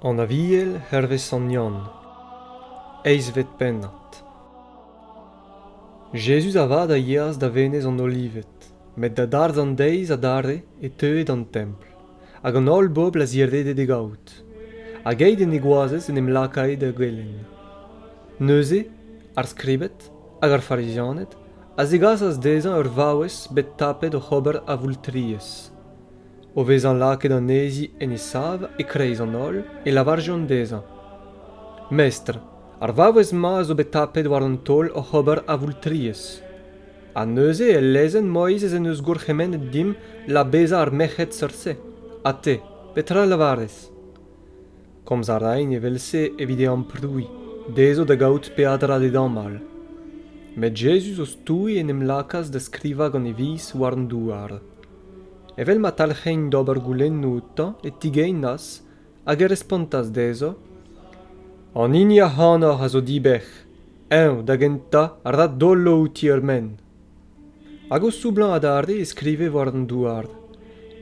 An Aviel hervez sant Yann, eizhvet pennad. Jezuz avat a yeas da Venez an Olived, met da darzh an deiz adarre e teue d'an templ, hag an holl bobl a zirede d'e gaout, hag keit en e goazez en em lakae da gelenn. Neuze, ar skribed hag ar Farizianed a zegasas dezhañ ur vaouez bet tapet oc'h ober avoultriezh. O vezañ lakaet anezhi en he sav e-kreiz an holl, e lavarjont dezhañ Mestr, ar vaouez-mañ zo bet tapet war an taol oc'h ober avoultriezh. Ha neuze el lezenn Moizez en deus gourc'hemennet dimp labezañ ar merc'hed seurt-se. Ha te, petra a lavarez? Komz a raen evel-se evit e amprouiñ, dezho da gaout peadra d'e damall. Met Jezuz o stouiñ en em lakaas da skrivañ gant e viz war an douar. Evel ma talc'hein d'ober goulennoù outañ e tigeinas hag e respontas dezho, An hini ac'hanoc'h a zo dibec'h, eñ da gentañ a ra dolo outi er menn. Hag o soublañ adarre e skrive war an douar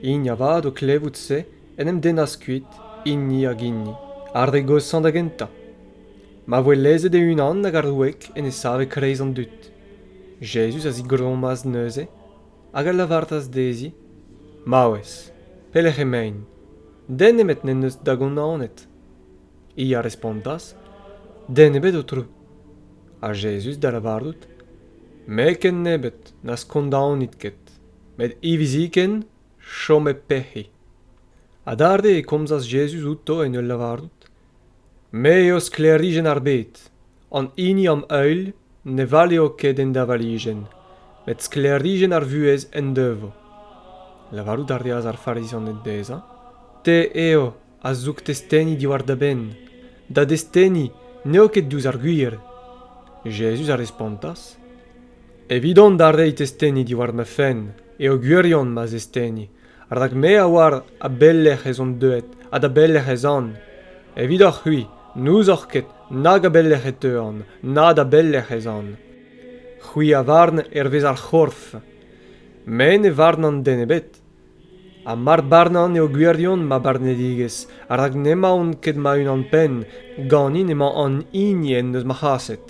hini avat o klevout se en em dennas kuit, hini hag hini, ar re goshañ da gentañ. Ma voe lezet e-unan hag ar wreg en e save kreiz an dud, Jezuz a zigrommas neuze hag a lavaras dezhi maouez, pelec'h emaint? Den nemet n'en deus da gonnanet. Hi a respontas, Den ebet, Aotrou. Ha Jezuz da lavarout, Me ken nebeut na skondaonit ket, met hiviziken chomet pec'hik. Adarre e komzas Jezuz outo en ul lavarout, Me eo sklêrijenn ar bed. An hini am heul ne valeo ket en davalijenn, met sklêrijenn ar vuhez en devo. Lavarout a reas ar Farizianed dezhañ, Te eo a zoug testeni diwar da benn. Da desteni n'eo ket diouzh ar gwir. Jezuz a respontas, Evidon da reiñ testeni diwar ma fenn eo gwirion ma zesteni, rak me a oar a belec'h ez on deuet ha da belec'h ez an. Evidoc'h-c'hwi n'ouzoc'h ket nag a belec'h e teuan, na da belec'h ez an. C'hwi a varn hervez ar c'horf. Me ne varn an den ebet. ha mar barnan eo gwirion ma barnedigezh rak n'emaon ket ma-unan-penn ganin emañ an hini en deus ma c'haset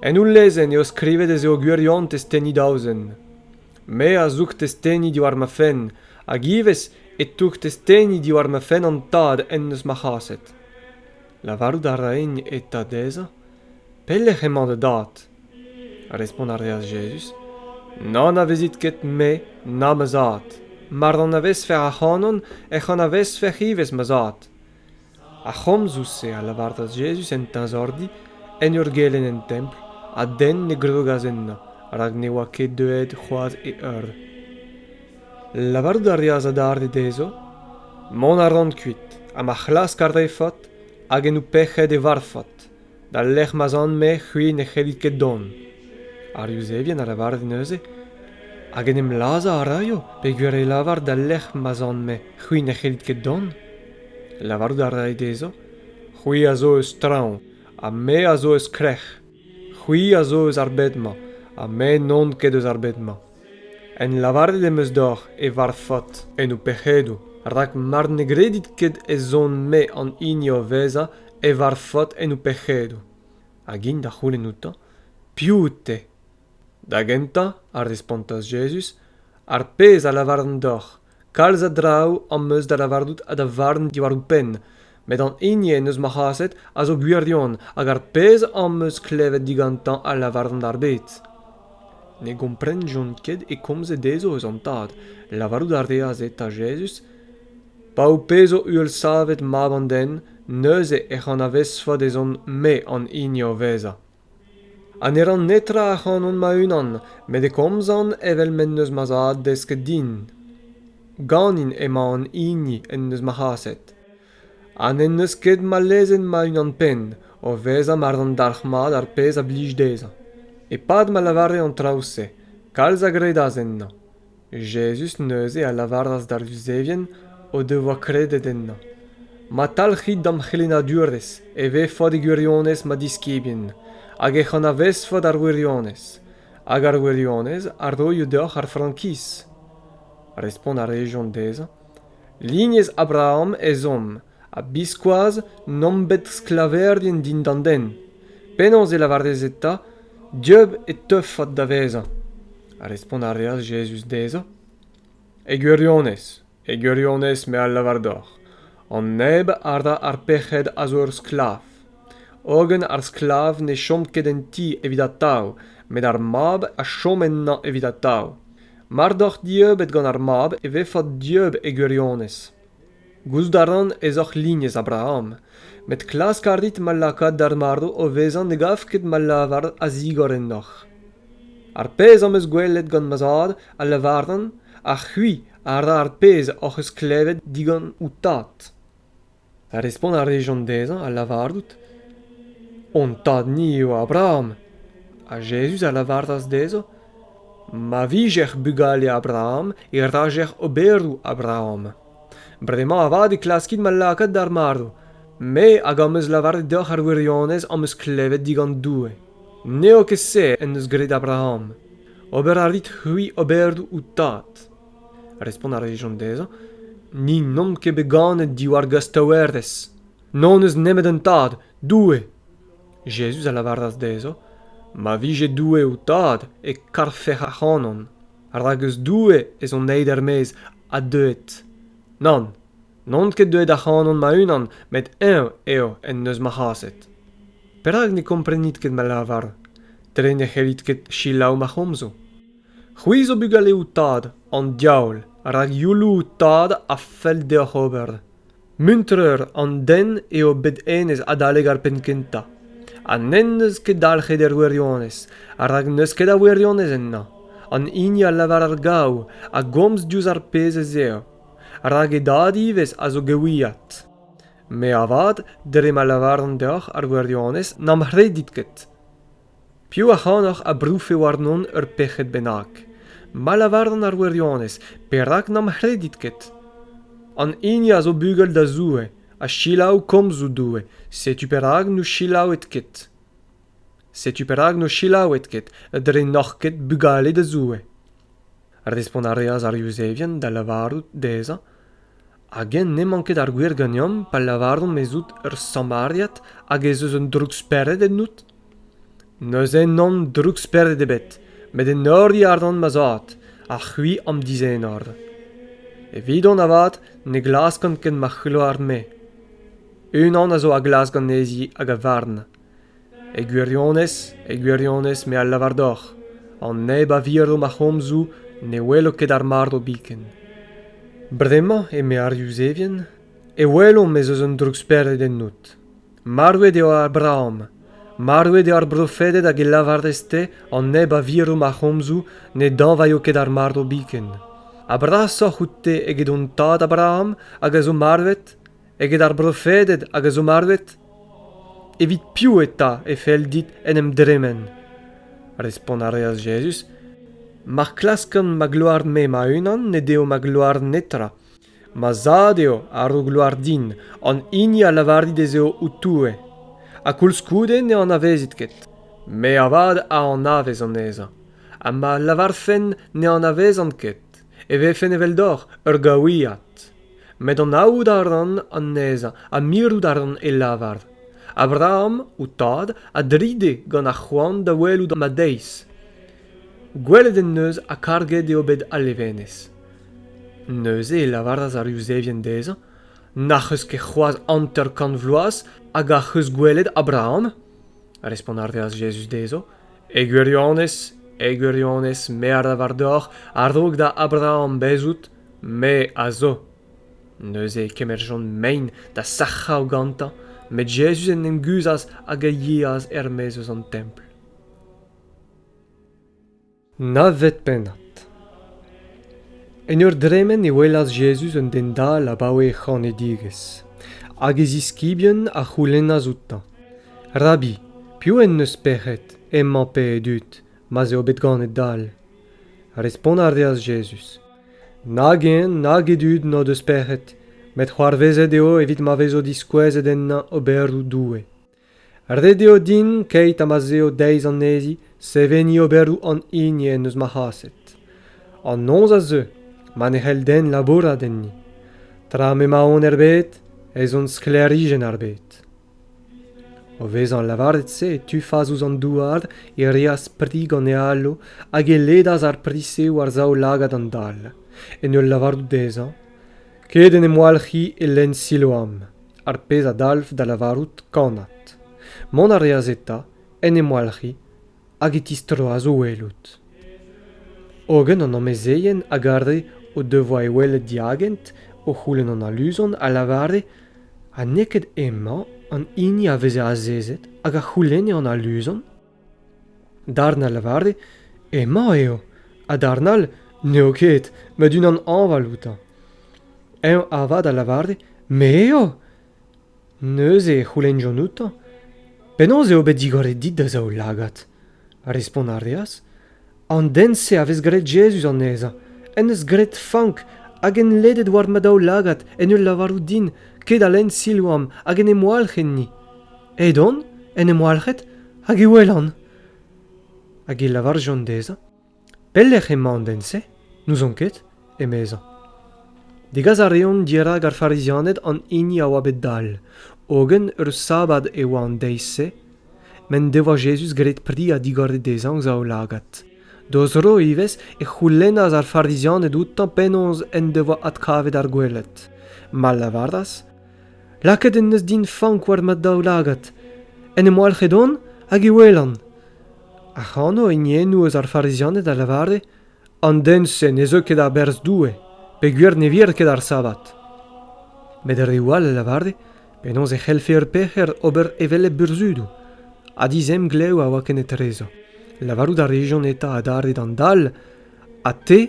en ul lezenn eo skrivet ez eo gwirion testeni daouzek me a zoug testeni diwar ma fenn hag ivez e toug testeni diwar ma fenn an tad en deus ma c'haset lavarout a raen eta dezhañ pelec'h emañ da dad Respont a reas Jezuz, N'anavezit ket Me, na ma Zad. Mar anavezfec'h ac'hanon, ec'h anavezfec'h ivez ma Zad. Ar c'homzoù-se a lavaras Jezuz en teñzordi, en ur gelenn en templ, ha den ne grogas ennañ, rak ne oa ket deuet c'hoazh e eur. Lavarout a reas adarre dezho, Mont a ran kuit, ha ma c'hlask ar re faot, hag en ho pec'hed e varvfot. D'al lec'h ma'z an-me c'hwi ne c'hellit ket dont. Ar Yuzevien a lavare neuze hag en em lazhañ a raio peogwir e lavar d'al lec'h ma'z an-me c'hwi ne c'hellit ket dont. Lavarout a rae dezhañ, C'hwi a zo eus traoñ, ha me a zo eus krec'h. C'hwi a zo eus ar bed-mañ, ha me n'on ket eus ar bed-mañ. En lavaret em eus deoc'h e varvfot en ho pec'hedoù, rak mar ne gredit ket ez on-me an hini o vezañ e varvfot en ho pec'hedoù. Hag int da c'houlenn outañ, Piv out-te? Da gentañ, a respontas Jezuz, ar pezh a lavaran deoc'h, kalz a draoù am eus da lavarout ha da varn diwar ho penn met an hini en deus ma c'haset a zo gwirion hag ar pezh am eus klevet digantañ a lavaran d'ar bed ne gomprenjont ket e komze dezho eus an tad lavarout a reas eta jezuz pa ho pezo uhelsavet mab an den neuze ec'h anavezfot ezhomm me an hini o vezañ ha ne ran netra ac'hanon ma-unan met e komzan evel m'en deus ma zad desket din ganin emañ an hini en deus ma c'haset ha n'en deus ket ma lezenn ma-unan-penn o vezañ mar dan dalc'hmat ar pezh a blij dezhañ e-pad ma lavare an traoù-se kalz a gredas ennañ Jezuz neuze a lavaras d'ar Vuzevien o devoa kredet ennañ, Ma talc'hit d'am c'helennadurezh e vefot e gwirionez ma diskibien, hag ec'h anavezfot ar wirionez, hag ar wirionez a roio deoc'h ar frankiz. Respont a rejont dezhañ, Lignez Abraham ez omp, ha biskoazh n'omp bet sklaverien dindan den penaos e lavarez eta dieub e teufot da vezañ ha respont a reas Jezuz dezhañ e gwirionez e gwirionez me a lavar deoc'h an neb a ra ar pec'hed a zo ur sklav hogen ar sklav ne chom ket en ti evit atav met ar mab a chom ennañ evit atav mar doc'h dieubet gant ar mab e vefot dieub e gwirionez Gouzout a ran ez oc'h lignez Abraham, met klask a rit ma lakaat d'ar marv o vezañ ne gav ket ma lavar a zigor ennoc'h. Ar pezh am eus gwelet gant ma zad a lavaran, ha c'hwi a ra ar pezh hoc'h eus klevet digant ho tad. Respont a rejont dezhañ ha lavarout, Hon tad-ni eo Abraham. Ha Jezuz a lavaras dezho, Ma vijec'h bugale Abraham e rajec'h oberoù Abraham. Bremañ avat e klaskit ma lakaat d'ar marv. Me hag am eus lavaret deoc'h ar wirionez am eus klevet digant Doue. N'eo ket se en deus graet Abraham. Ober a rit c'hwi oberoù ho tad. Respont a rejont dezhañ, Ni n'omp ket bet ganet diwar gastaouerez. N'hon eus nemet un tad, Doue. Jezuz a lavaras dezhañ, Ma vije Doue ho tad, e karfec'h ac'hanon. rak eus Doue ez on aet er-maez ha deuet. Nann, n'on ket deuet ac'hanon ma-unan, met eñ eo en deus ma c'haset. Perak ne komprenit ket ma lavar? Dre ne c'hellit ket selaou ma c'homzoù. C'hwi zo bugaleoù tad an diaoul, rak youlou tad a fell deoc'h ober. Muntreur an den eo bet hennezh adalek ar penn-kentañ ha n'en deus ket dalc'het er wirionez rak n'eus ket a wirionez ennañ an hini a lavar ar gaou a gomz diouzh ar pezh ez eo rak e dad ivez a zo gewiad me avat dre ma lavaran deoc'h ar wirionez n'am c'hredit ket Piv ac'hanoc'h a brouffe warnon ur pec'hed bennak? Ma lavaran ar wirionez, perak n'am c'hredit ket? An hini a zo bugel da Zoue ha selaou komzoù Doue, setu perak n'o selaouit ket. Setu perak n'o selaouit ket, dre n'oc'h ket bugale da Zoue. Respont a reas ar Yuzevien da lavarout dezhañ Hag-eñ n'emañ ket ar gwir ganeomp pa lavaromp ez out ur Samariad hag ez eus un droukspered ennout ? Neuze n'on droukspered ebet, met enoriñ a ran ma zad, ha c'hwi am dizenor. Evidon avat ne glaskan ket ma c'hloar-me. Unan a zo a glask anezhi hag a varn. E gwirionez, e gwirionez me a lavar deoc'h, an neb a viro ma c'homzoù ne welo ket ar marv biken. Bremañ, eme ar Yuzevien, e welomp ez eus un droukspered ennout. Marvet eo Abraham. Marvet eo ar brofeded hag e lavarez-te an neb a viro ma c'homzoù ne dañvaio ket ar marv biken. Ha brasoc'h out-te eget hon tad Abraham hag a zo marvet? eget ar brofeded hag a zo marvet? Evit piv eta e fell dit en em dremen? Respont a reas Jezuz, Ma klaskan ma gloar-me ma-unan ne deo ma gloar netra. Ma zad eo a ro gloar din, an hini a lavari dezho ho Toue. Ha koulskoude ne anavezit ket. Me avat a anavez anezhañ, ha ma lavarfen ne anavezan ket. e vefen eveldoc'h ur gaouiad met anaout a ran anezhañ ha mirout a ran e lavar abraham ho tad a dride gant ar c'hoant da welout ma deiz gwelet en deus ha karget eo bet al levenez neuze e lavaras ar yuzevien dezhañ n'ac'h eus ket c'hoazh hanter-kant vloaz hag ac'h eus gwelet abraham respont a reas jezuz dezho E gwirionez, e gwirionez, me a ra war-dor a-raok da Abraham bezout, me a zo. Neuze e kemerjont mein da sac'hañ gantañ, met Jezuz en em guzhas hag a yeas er-maez eus an templ. Na vet pennad. En ur dremen e welas Jezuz un den dall abaoe e c'hanedigezh, hag e ziskibien a c'houlennas outañ. Rabi, piv en deus pec'hed emañ pe e dud ma'z eo bet ganet dall? Respont a reas Jezuz, Nag hen nag e dud n'o deus pec'hed, met c'hoarvezet eo evit ma vezo diskouezet ennañ oberoù Doue. Ret eo din, keit ha ma'z eo deiz anezhi, seveniñ oberoù an hini en deus ma c'haset. An noz a zeu ma ne c'hell den labourat enni. Tra m'emaon er bed ez on sklêrijenn ar bed. O vezañ lavaret-se e tufas ouzh an douar, e reas pri gant e alo hag e ledas ar pri-se war zaoulagad an dal, en ul lavarout dezhañ ket en em walc'hiñ e lenn Siloam, ar pezh a dalv da lavarout kannad. Mont a reas eta, en em walc'hiñ hag e tistroas o welout. Hogen an amezeien a gare o devoa e welet diagent o c'houlenn an aluzon a lavare ha n'eo ket hemañ an hini a veze azezet hag a c'houlenne an aluzon? Darn a lavare emañ eo, ha darn all n'eo ket, met unan hañval outañ. Eñ avat a lavare me eo! Neuze e c'houlennjont outañ penaos eo bet digoret dit da zaoulagad. Respont a reas an den-se a vez graet Jezuz anezhañ, en deus graet fank hag en ledet war ma daoulagad en ul lavarout din kedalen Siloam hag en em walc'h enni. Edon en em walc'het hag e welan. Hag e lavarjont dezhañ Pelec'h emañ an den-se ? N'ouzon ket, emezañ. Degas a reont dirak ar Farizianed an hini a oa bet dall, hogen ur sabad e oa an deiz-se m'en devoa Jezuz graet pri ha digoret dezhañ o zaoulagad. D'o zro ivez e c'houlennas ar Farizianed outañ penaos en devoa adkavet ar gweled. Ma lavaras, Lakaet en deus din fank war ma daoulagad. En em walc'het on hag e welan. Ac'hano hiniennoù eus ar Farizianed a lavare, An den-se ne zeu ket a-berzh Doue, peogwir ne vir ket ar sabbat. Met reoù all a lavare penaos e c'hellfe ur pec'her ober evel hep burzhudoù, ha dizemglev a oa ken etrezo. Lavarout a rejont eta adarre d'an dall, Ha te,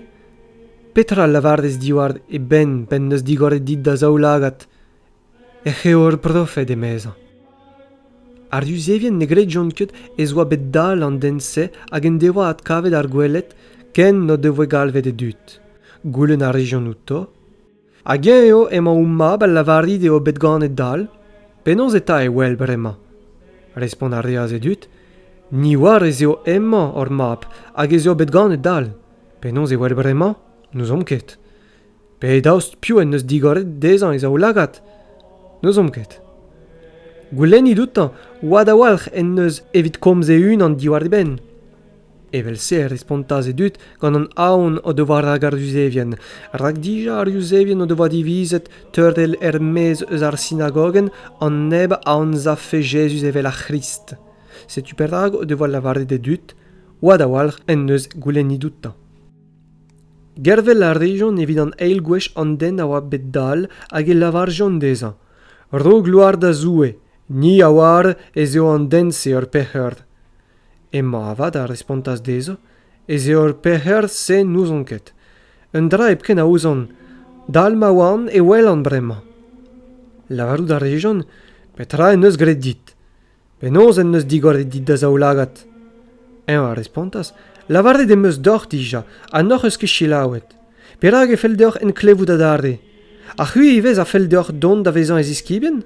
petra a lavarez diwar e benn p'en deus digoret dit da zaoulagad ec'h eo ur brofed emezañ ar yuzevien ne gredjont ket ez oa bet dall an den-se hag en devoa adkavet ar gweled ken n'o devoe galvet e dud goulenn a rejont outo hag eñ eo emañ ho mab a lavarit eo bet ganet dall penaos eta e wel bremañ respont a reas e dud ni oar ez eo hemañ hor mab hag ez eo bet ganet dall penaos e wel bremañ n'ouzomp ket Pe daoust piv en deus digoret dezhañ e zaoulagad? N'ouzomp ket. Goulennit outañ oad a-walc'h en deus evit komz e-unan diwar e benn. Evel-se e respontas e dud gant an aon o devoa rak ar Yuzevien, rak dija ar Yuzevien o devoa divizet teurel er-maez eus ar sinagogenn an neb a anzavfe Jezuz evel ar C'hrist. Setu perak o devoa lavaret e dud oad a-walc'h en deus goulennit outañ. Gervel a rejont evit an eil gwech an den a oa bet dall hag e lavarjont dezhañ Ro gloar da Zoue, ni a oar ez eo an den-se ur pec'her. Emañ avat a respontas dezhañ ez eo ur pec'her-se n'ouzon ket. Un dra hepken a ouzon, dall ma oan e welan bremañ. Lavarout a rejont Petra en deus graet dit? Penaos en deus digoret dit da zaoulagad? Eñ a respontas, Lavaret em eus deoc'h dija ha n'hoc'h eus ket selaouet. Perak e fell deoc'h enklevout adarre? Ha c'hwi ivez a fell deoc'h dont da vezañ e ziskibien?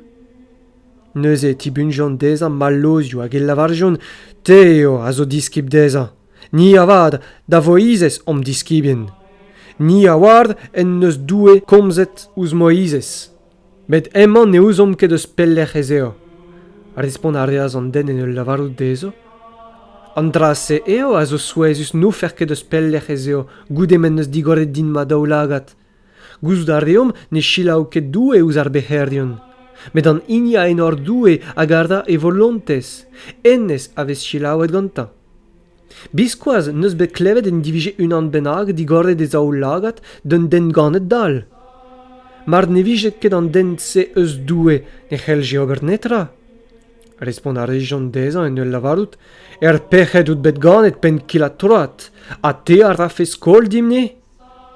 Neuze e tibunjont dezhañ mallozioù hag e lavarjont, Te eo a zo diskib dezhañ. Ni avat, da Voizez omp diskibien. Ni a oar en deus Doue komzet ouzh Moizez. met hemañ ne ouzomp ket eus pelec'h ez eo. Respont a reas an den en ul lavarout dezho An dra-se eo a zo souezhus n'oufer ket eus pelec'h ez eo goude m'en deus digoret din ma daoulagad. Gouzout a reomp ne selaou ket Doue ouzh ar bec'herion, met an hini a enor Doue a garda e volontez, hennezh a vez selaouet gantañ. Biskoazh n'eus bet klevet en divije unan bennak digoret e zaoulagad d'un den ganet dall. Mar ne vije ket an den-se eus Doue e c'hellje ober netra. Respont a rejont dezhañ en ul lavarout Er pec'hed out bet ganet penn-kil-ha-troad ha te a rafe skol dimp-ni ?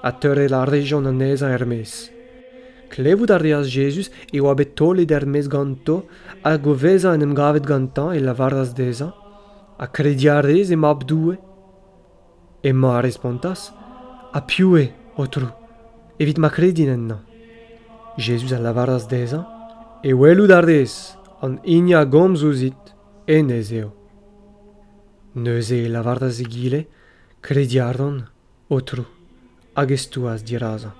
ha teurel a rejont anezhañ er-maez. Klevout a reas Jezuz e oa bet taolet er-maez ganto hag o vezañ en em gavet gantañ e lavaras dezhañ, Ha krediñ a rez e Mab Doue? Hemañ a respontas, Ha piv eo, Aotrou, evit ma kredin ennañ? Jezuz a lavaras dezhañ, E welout a rez, an hini a gomz ouzhit, hennezh eo. Neuze e lavaras egile, Krediñ a ran. Aotrou, hag e stouas dirazañ.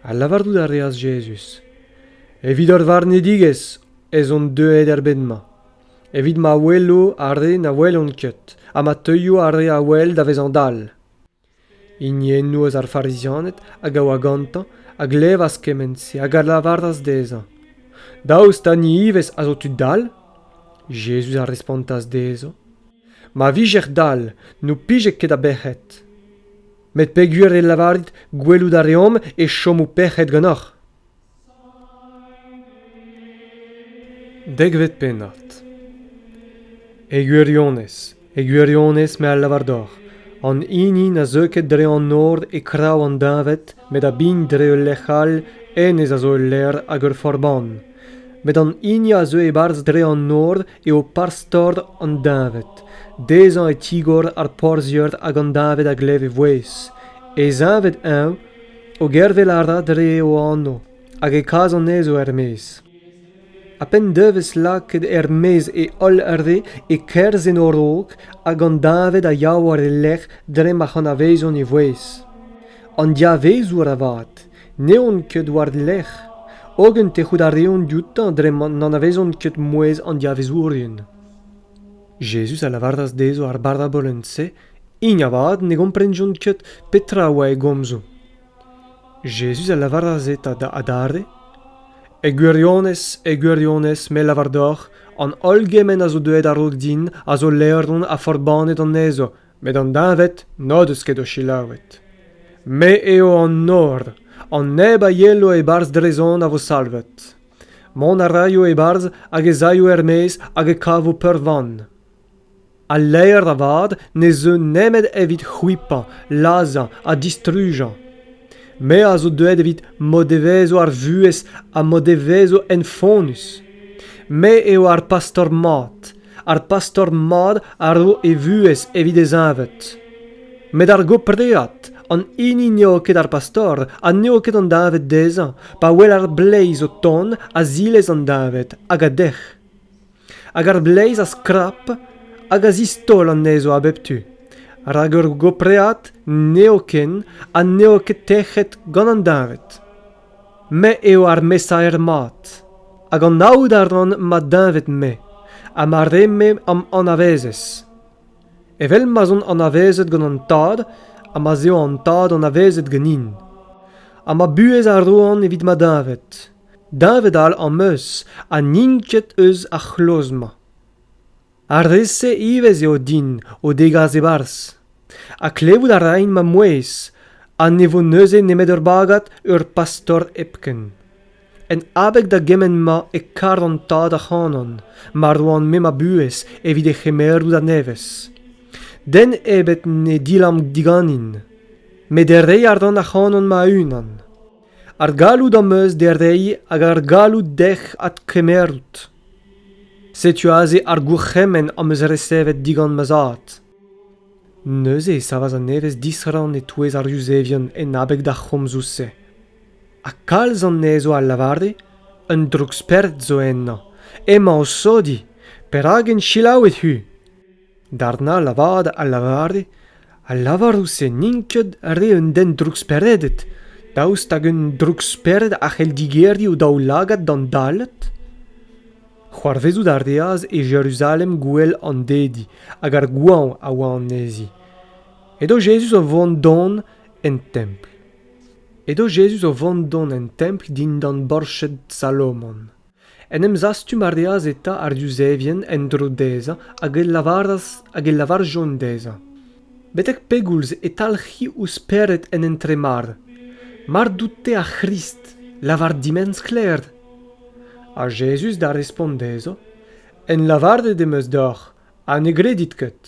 Ha lavarout a reas Jezuz, Evit ur varnedigezh ez on deuet er bed-mañ, evit ma welo ar re na welont ket, ha ma teuio ar re a wel da vezañ dall. Hiniennoù eus ar Farizianed hag a oa gantañ a glevas kement-se hag a lavaras dezhañ, Daoust ha ni ivez a zo tud dall? Jezuz a respontas dezhañ, Ma vijec'h dall n'ho pije ket a bec'hed. Met peogwir e lavarit gwelout a reomp e chomo pec'hed ganeoc'h. Dekvet pennad E gwirionez, e gwirionez me a lavar deoc'h, an hini na zeu ket dre an nor e kraou an deñved met a bign dre ul lec'h all, hennezh a zo ul lec'h hag ur forbann. Met an hini a zeu e-barzh dre an nor eo parzh-tord an deñved. Dezhañ e tigor ar porzhier hag an deñved a glev e vouezh. E zeñved-eñv, o gervel a ra dre o anv, hag e kas anezho er-maez. Ha p'en devez lakaet er-maez e holl re e-kerzh en o-raok hag an deñved a ya war e lerc'h dre ma c'anavezont e vouezh. An diavezour avat, n'eont ket war-lerc'h, hogen tec'hout a reont dioutañ dre ma n'anavezont ket mouezh an diavezourien. Jezuz a lavaras dezho ar barabolenn-se hini avat ne gomprenjont ket petra a oa e gomzoù. Jezuz a lavaras eta da adarre, E gwirionez, e gwirionez, me lavar deoc'h, an holl gement a zo deuet a-raok din a zo laeron ha forbannet anezho, met an deñved n'o deus ket o selaouet. Me eo an nor, an neb a yelo e-barzh Drezon a vo salvet. Mont a raio e-barzh hag ez aio er-maez hag e kavo peurvan. Al laer avat ne zeu nemet evit c'hwipañ, lazhañ ha distrujañ. Me a zo deuet evit m'o devezo ar vuhez ha m'o devezo enfonnus. Me eo ar pastor mat, ar pastor mat a ro e vuhez evit e zeñved. Met ar gopread, an hini n'eo ket ar pastor ha n'eo ket an deñved dezhañ, pa wel ar bleiz o tont, a zilez an deñved hag a dec'h. Hag ar bleiz a skrap hag a zistaol anezho a bep tu. Rak ur gopread n'eo ken ha n'eo ket tec'het gant an deñved. Me eo ar mesaer mat, hag anaout a ran ma deñved-me ha ma re-me am anavezez. Evel ma'z on anavezet gant an Tad ha ma'z eo an Tad anavezet ganin. Ha ma buhez a roan evit ma deñved. Deñved all am eus ha n'int ket eus ar c'hloz-mañ. ar re-se ivez eo din o degas e-barzh ha klevout a raint ma mouezh ha ne vo neuze nemet ur bagad ur pastor hepken en abeg da gement-mañ e kar an tad ac'hanon ma roan-me ma buhez evit e c'hemerout a-nevez den ebet ne dilamm diganin met e rey àr-dant ac'hanon ma-unan Ar galloud am eus da reiñ hag ar galloud dec'h adkemerout. Setu aze ar gourc'hemenn am eus resevet digant ma zad. Neuze e savas an evezh disrann e-touez ar Yuzevion en abeg d'ar c'homzoù-se. Ha kalz anezho a lavare, un droug-spered zo ennañ, emañ o sodiñ. Perak int selaouet-hu ? Darnall avat a lavare: Al lavaroù-se n'int ket re un den drouksperedet, daoust hag un droukspered a c'hell digeriñ o daoulagad d'an Dallet? C'hoarvezout a reas e Jeruzalem gouel an Dedi hag ar goañv a oa anezhi. Edo Jezuz o vont don en templ. Edo Jezuz o vont don en templ dindan borched Salomon. En em zastum a reas eta ar Yuzevien en-dro dezhañ hag e lavaras hag e lavarjont dezhañ betek pegoulz e talc'hi ho spered en entremar mar dout-te ar C'hrist lavar dimen sklaer ha Jezuz da respont dezhañ en lavaret em eus deoc'h ha ne gredit ket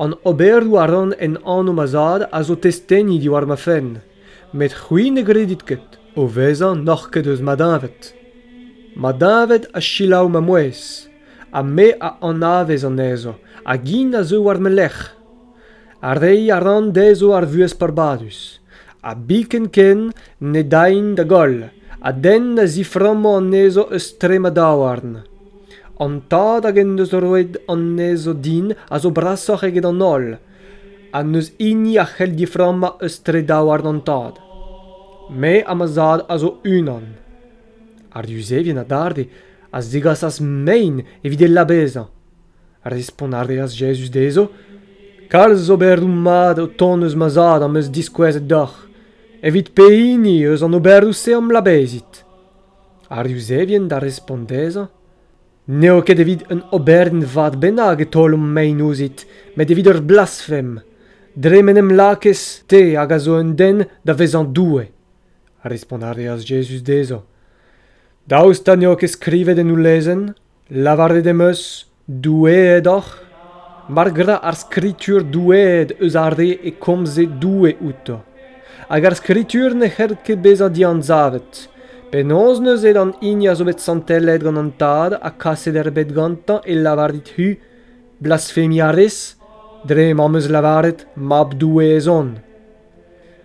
an oberoù a ran en anv ma zad a zo testeni diwar ma fenn met c'hwi ne gredit ket o vezañ n'oc'h ket eus ma deñved ma deñved a selaou ma mouezh ha me a anavez anezho hag int a zeu war ma lerc'h ha reiñ a ran dezho ar vuhez peurbadus ha biken ken ne daint da goll ha den na ziframmo anezho eus tre ma daouarn an tad hag en deus roet anezho din a zo brasoc'h eget an holl ha n'eus hini a c'hell diframmañ eus tre daouarn an tad me ha ma zad a zo unan ar yuzevien adarre a zegasas mein evit e labezañ respont a reas jezuz dezho kalz oberoù mat o tont eus ma zad am eus diskouezet deoc'h evit pehini eus an oberoù-se am labezit ar Yuzevien da respont dezhañ n'eo ket evit un oberenn vat bennak e taolomp mein ouzhit met evit ur blasfem dre m'en em lakez te hag a zo un den da vezañ doue respont a reas Jezuz dezhañ daoust ha n'eo ket skrivet en ho lezenn lavaret em eus Doueed oc'h ? Mar gra ar Skritur doueed eus ar re e komze Doue outo. Hag ar Skritur ne c'hell ket bezañ dianzavet. Penaos neuze d'an hini a zo bet santellet gant an Tad ha kaset erbet gantañ e lavar dit-hu blasfemiarez dre m'am eus lavaret Mab Doue ez on ?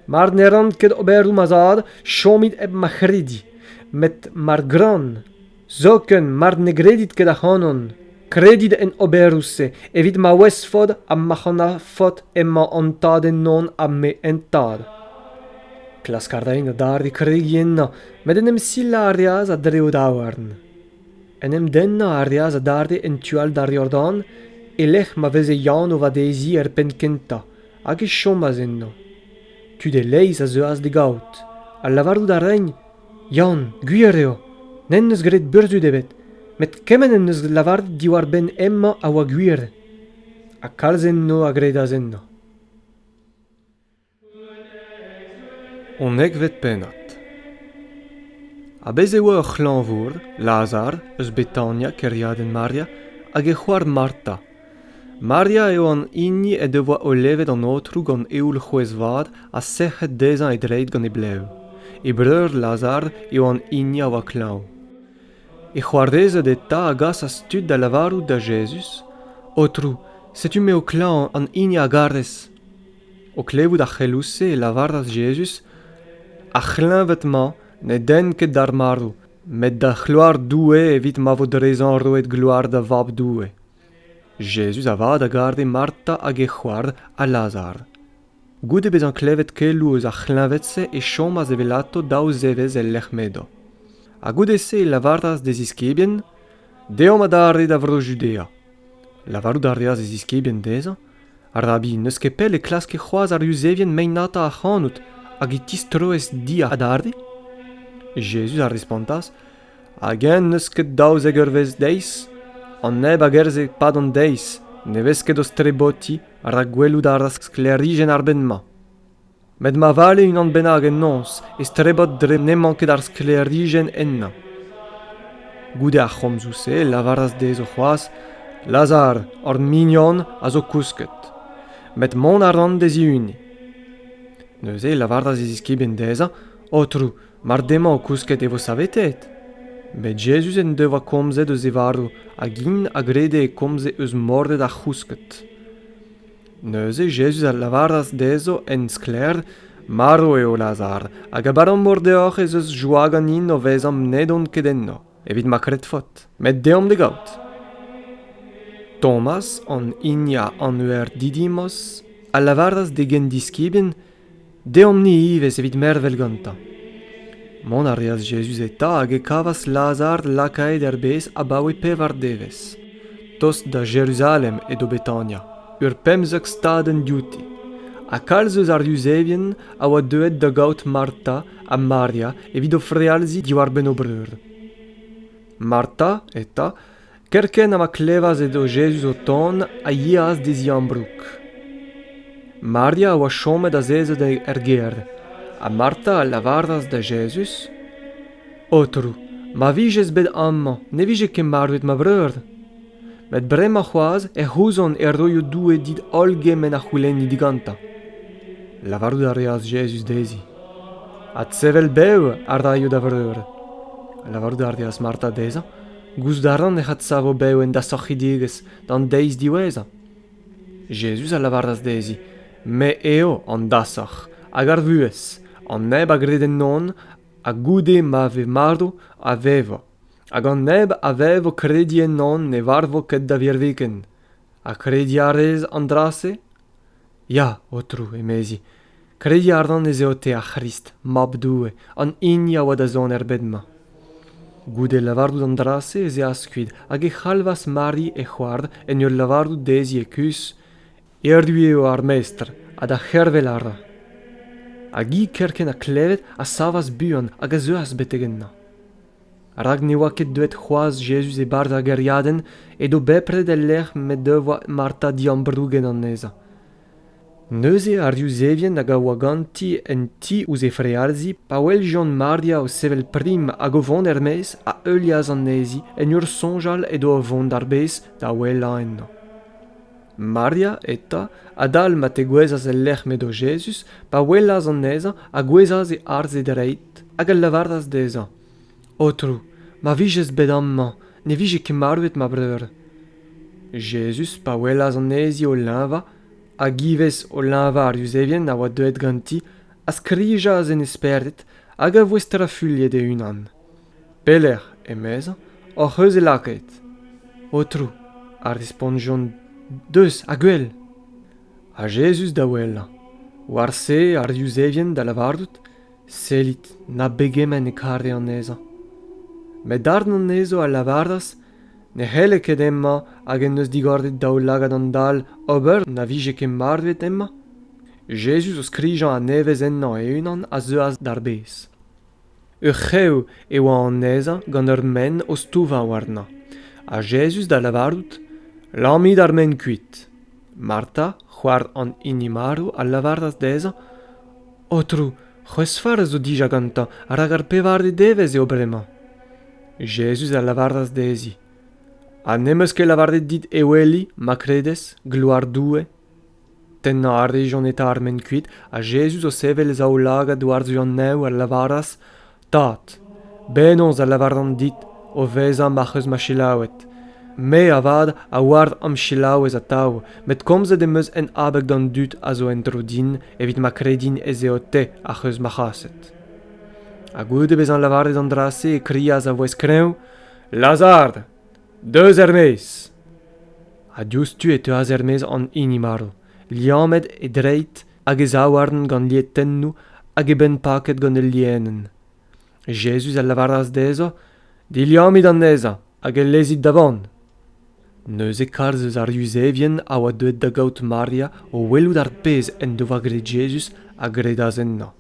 Mar ne ran ket oberoù ma zad, chomit hep ma c'hredi, met mar gran. Zoken mar ne gredit ket ac'hanon, kredit en oberoù-se evit ma ouezfot ha ma c'hanafot emañ an tad ennon ha me en tad. Klask a raen adarre kregiñ ennañ, met en em silañ a reas a-dreñv daouarn. En em dennañ a reas adarre en tu all d'ar Yordan, e-lec'h ma veze Yann o vadeziñ er penn kentañ, hag e chomas ennañ. Tud e-leizh a zeuas d'e gaout, ha lavarout a raent Yann, gwir eo, n'en deus graet burzhud ebet, met kement en deus lavaret diwar-benn hemañ a oa gwir, ha kalz enno a gredas ennañ. Unekvet pennad Ha bez' e oa ur c'hlañvour, Lazar, eus Betania, kêriadenn Maria, hag e c'hoar Marta, Maria eo an hini en devoa olevet an Aotrou gant eoul c'hwezh-vat ha sec'hed dezhañ e dreid gant e blev. E breur Lazar eo an hini a oa klañv. E c'hoarezed eta a gasas tud da lavarout da Jezuz, Aotrou, setu me ho klañv an hini a garez. O klevout ar c'heloù-se e lavaras Jezuz, Ar c'hleñved-mañ ne denn ket d'ar marv, met da c'hloar Doue evit ma vo dezhañ roet gloar da Vab Doue. Jezuz avat a gare Marta hag he c'hoar ha Lazar. Goude bezañ klevet keloù eus ar c'hleñved-se e chomas evelato daou zevezh el lec'h m'edo. Ha goude-se e lavaras d'e ziskibien Deomp adarre da vro Judea. Lavarout a reas e ziskibien dezhañ Rabi, n'eus ket pell e klaske c'hoazh ar Yuzevien meinata ac'hanout hag e tistroez di adarre? Jezuz a respontas Hag-eñ n'eus ket daouzek eurvezh deiz ? An neb a gerzhe 'pad an deiz ne vez ket o strebotiñ rak gwelout a ra sklêrijenn ar bed-mañ. Met ma vale unan bennak en noz e strebot dre n'emañ ket ar sklêrijenn ennañ. Goude ar c'homzoù-se e lavaras dezho c'hoazh, Lazar, hor mignon, a zo kousket. Met mont a ran d'e zihuniñ. Neuze e lavaras e ziskibien dezhañ, Aotrou, Mar demañ o kousket e vo saveteet. Met Jezuz en devoa komzet eus e varv hag int a grede e komze eus mordet ar c'housked. Neuze Jezuz a lavaras dezho en sklaer, Marv eo Lazar, hag abalamour deoc'h ez eus joa ganin o vezañ n'edon ket enno, evit ma kredfot. Met deomp d'e gaout. Tomas, an hini a anver Didimos, a lavaras d'e gendiskibien Deomp-ni ivez evit mervel gantañ. Mont a reas Jezuz eta hag e kavas Lazar lakaet er bez abaoe pevar devezh. Tost da Jeruzalem edo Betania, ur pemzek stadenn diouti. Ha kalz eus ar Yuzevien a oa deuet da gaout Marta ha Maria evit o frealziñ diwar-benn o breur. Marta, eta, Kerkent ha ma klevas edo Jezuz o tont, a yeas d'e ziambroug. Maria a oa chomet azezet er gêr, ha Marta a lavaras da Jezuz, Aotrou, ma vijez bet amañ, ne vije ket marvet ma breur. Met bremañ c'hoazh ec'h ouzon e roio Doue dit holl gement a c'houlenni digantañ. Lavarout a reas Jezuz dezhi, Adsevel bev a raio da vreur. Lavarout a reas Marta dezhañ, Gouzout a ran ec'h adsavo bev en dasorc'hidigezh d'an deiz diwezhañ. Jezuz a lavaras dezhi, Me eo an dasoc'h hag ar vuhez, an neb a gred ennon, ha goude ma ve marv, a vevo, hag an neb a vevo krediñ ennon ne varvo ket da virviken. Ha krediñ a rez an dra-se ? Ya, Aotrou, emezi, krediñ a ran ez eo te ar C'hrist, Mab Doue, an hini a oa da zont er bed-mañ. Goude lavarout an dra-se ez eas kuit hag e c'halvas Mari he c'hoar en ur lavarout dezhi e-kuzh Erru eo ar Mestr ha da c'hervel a ra. Hag hi kerkent ha klevet a savas buan hag a zeuas betek ennañ. rak ne oa ket deuet c'hoazh Jezuz e-barzh ar gêriadenn edo bepred el lec'h m'he devoa Marta diambrouget anezhañ. Neuze ar Yuzevien hag a oa ganti en ti ouzh he frealzi pa weljont Maria o sevel prim hag o vont er-maez a heulias anezhi en ur soñjal edo o vont d'ar bez da ouelañ ennañ. Maria eta, adal ma tegouezhas el lec'h m'edo Jezuz, pa welas anezhañ, a gouezhas e arze dreid hag a lavaras dezhañ, Aotrou, ma vijez bet amañ, ne vije ket marvet ma breur. Jezuz, pa welas anezhi o leñvañ, hag ivez o leñvañ ar Yuzevien a oa deuet ganti, a skrijas en e spered hag a voe strafuilhet e-unan. Pelec'h, emezañ, hoc'h eus e lakaet, Aotrou? a respontjont deus ha gwell. Ha Jezuz da ouelañ. War-se ar Yuzevien da lavarout, Sellit, na begement e kare anezhañ. Met darn anezho a lavaras ne c'helle ket hemañ hag en deus digoret daoulagad an dall ober na vije ket marvet hemañ. Jezuz o skrijañ a-nevez ennañ e-unan a zeuas d'ar bez. Ur c'hev e oa anezhañ gant ur menn o stouvañ warnañ, ha Jezuz da lavarout, Lammit ar menn kuit. Marta, c'hoar an hini marv, a lavaras dezhañ, Aotrou, c'hwezh-farz zo dija gantañ, rak ar pevare devezh eo bremañ. Jezuz a lavaras dezhi, Ha n'em eus ket lavaret dit eweli, ma kredez, gloar Doue? Tennañ a rejont eta ar ment kuit, ha Jezuz o sevel e zaoulagad war-zu an neñv a lavaras, Tad, penaos a lavaran dit o vezañ ma'c'h eus ma selaouet? Me, avat, a oar am selaouez atav, met komzet em eus en abeg d'an dud a zo en-dro din evit ma kredin ez eo Te ac'h eus ma c'haset. Ha goude bezañ lavaret an dra-se, e krias a-vouezh kreñv, Lazar! Deus er-maez! Ha diouzhtu e teuas er-maez an hini marv, liammet e dreid hag e zaouarn gant lietennoù hag e benn paket gant ul lienenn. Jezuz a lavaras dezhañ, Diliamit anezhañ hag e lezit da vont. Neuze kalz eus ar Yuzevien a oa deuet da gaout Maria o welout ar pezh en devoa graet Jezuz a gredas ennañ.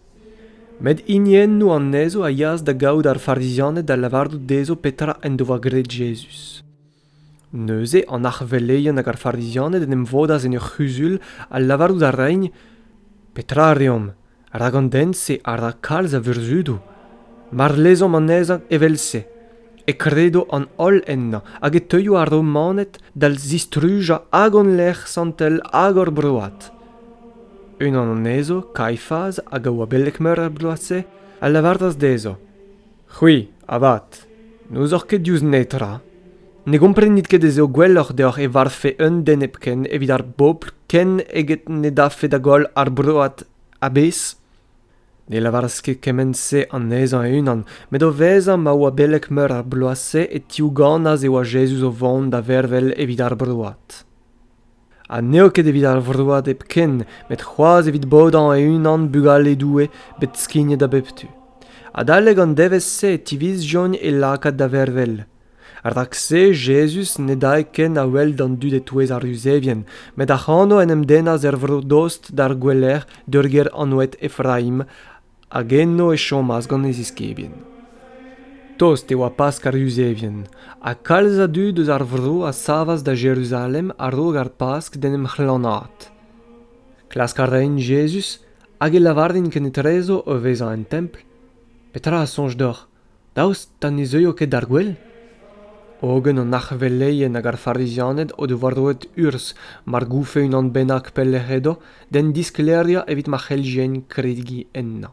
Met hiniennoù anezho a yaas da gavout ar Farizianed da lavarout dezho petra en doa graet Jezuz. Neuze an arc'hveleien hag ar Farizianed en em vodas en ur c'huzul ha lavarout a raent Petra a reomp? Rak an den-se a ra kalz a vurzhudoù. Mar lezomp anezhañ evel-se, e kredo an holl ennañ hag e teuio ar Romaned da zistrujañ hag hon lec'h santel hag hor broad. Unan anezho, Kaifaz, hag a oa beleg-meur er bloaz-se, a lavaras dezho, C'hwi, avat, n'ouzoc'h ket diouzh netra. Ne gomprenit ket ez eo gwelloc'h deoc'h e varvfe un den hepken evit ar bobl ken eget ne daffe da goll ar broad a-bezh? Ne lavaras ket kement-se anezhañ e-unan, met o vezañ ma oa beleg-meur ar bloaz-se e tiouganas e oa Jezuz o vont da vervel evit ar broad. ha n'eo ket evit ar vroad hepken met c'hoazh evit bodañ e-unan bugale Doue bet skignet a bep tu. Adalek an devezh-se e tivizjont e lakaat da vervel. Rak-se Jezuz ne dae ken a-wel d'an dud e-touez ar Yuzevien, met ac'hano en em dennas er vro dost d'ar gouelec'h d'ur gêr anvet Efraim, hag eno e chomas gant e ziskibien. Tost e oa Pask ar Yuzevien, ha kalz a dud eus ar vro a savas da Jeruzalem a-raok ar Pask d'en em c'hlanaat. Klask a raent Jezuz hag e lavarent kenetrezo o vezañ en templ, Petra a soñj deoc'h Daoust ha ne zeuio ket d'ar gwel? Hogen an arveleien hag ar Farizianed o devoa roet urzh mar goufe unan bennak pelec'h edo d'hen disklêriañ evit ma c'helljent kregiñ ennañ.